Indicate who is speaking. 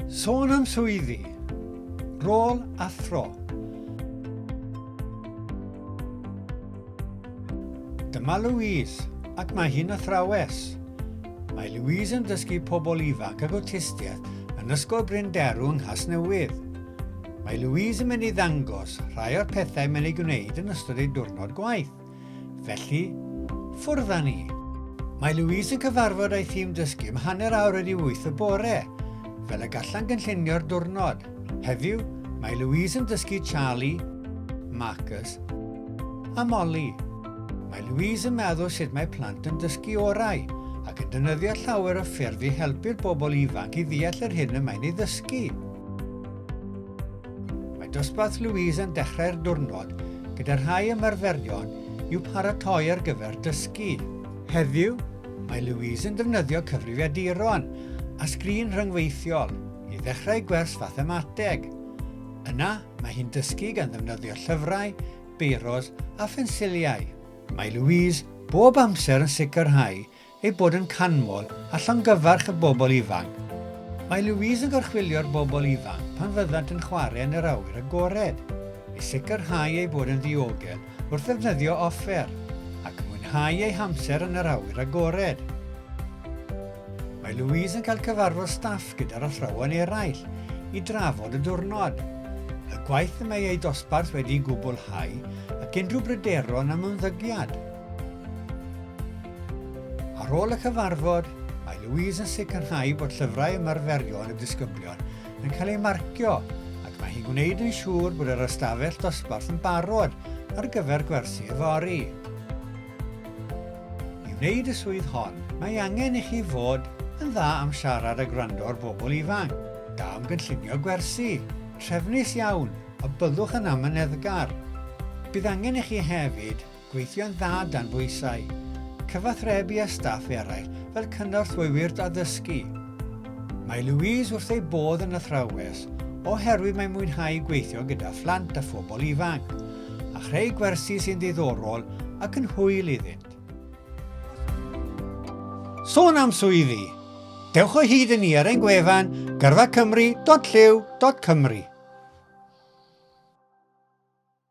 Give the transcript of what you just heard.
Speaker 1: Sôn am swyddi, rôl a thro. Dyma Louise, ac mae hi'n athrawes. Mae Louise yn dysgu pobl ifanc ag awtistiaeth yn Ysgol Bryn Derw yng Nghasnewydd. Mae Louise yn mynd i ddangos rhai o'r pethau mae'n ei gwneud yn ystod ei diwrnod gwaith. Felly, ffwrdd â ni! Mae Louise yn cyfarfod â'i thîm dysgu am hanner awr wedi wyth y bore, fel y gallan gynllunio'r diwrnod. Heddiw, mae Louise yn dysgu Charlie, Marcus a Molly. Mae Louise yn meddwl sut mae plant yn dysgu orau ac yn dynyddio llawer o ffyrdd i helpu'r bobl ifanc i ddeall yr hyn y mae'n ei ddysgu. Mae dosbarth Louise yn dechrau'r diwrnod gyda rhai ymarferion i'w paratoi ar gyfer dysgu. Heddiw, mae Louise yn defnyddio cyfrifiaduron a sgrin rhyngweithiol i ddechrau gwers fathemateg. Yna, mae hi'n dysgu gan ddefnyddio llyfrau, beiros a phensiliau. Mae Louise bob amser yn sicrhau ei bod yn canmol a llongyfarch y bobl ifanc. Mae Louise yn gorchfylio'r bobl ifanc pan fyddant yn chwarae yn yr awyr agored, i sicrhau eu bod yn ddiogel wrth ddefnyddio offer, ac mwynhau eu hamser yn yr awyr agored. Mae Louise yn cael cyfarfod staff gyda'r athrawon eraill i drafod y diwrnod, y gwaith y mae eu dosbarth wedi'i gwblhau ac unrhyw bryderon am ymddygiad. Ar ôl y cyfarfod, mae Louise yn sicrhau bod llyfrau ymarferion y disgyblion yn cael eu marcio ac mae hi'n gwneud yn siŵr bod yr ystafell dosbarth yn barod ar gyfer gwersi yfory. I wneud y swydd hon, mae angen i chi fod yn dda am siarad a gwrando ar bobl ifanc, da am gynllunio gwersi, trefnus iawn a byddwch yn amyneddgar. Bydd angen i chi hefyd Gweithio'n dda dan bwysau. Cyfathrebu â staff eraill fel cynorthwywyr addysgu. Mae Louise wrth ei bodd yn athrawes oherwydd mae'n mwynhau gweithio gyda phlant a phobl ifanc, a chreu gwersi sy'n ddiddorol ac yn hwyl iddynt. Sôn am swyddi, dewch o hyd i ni ar ein gwefan gyrfacymru.llyw.cymru.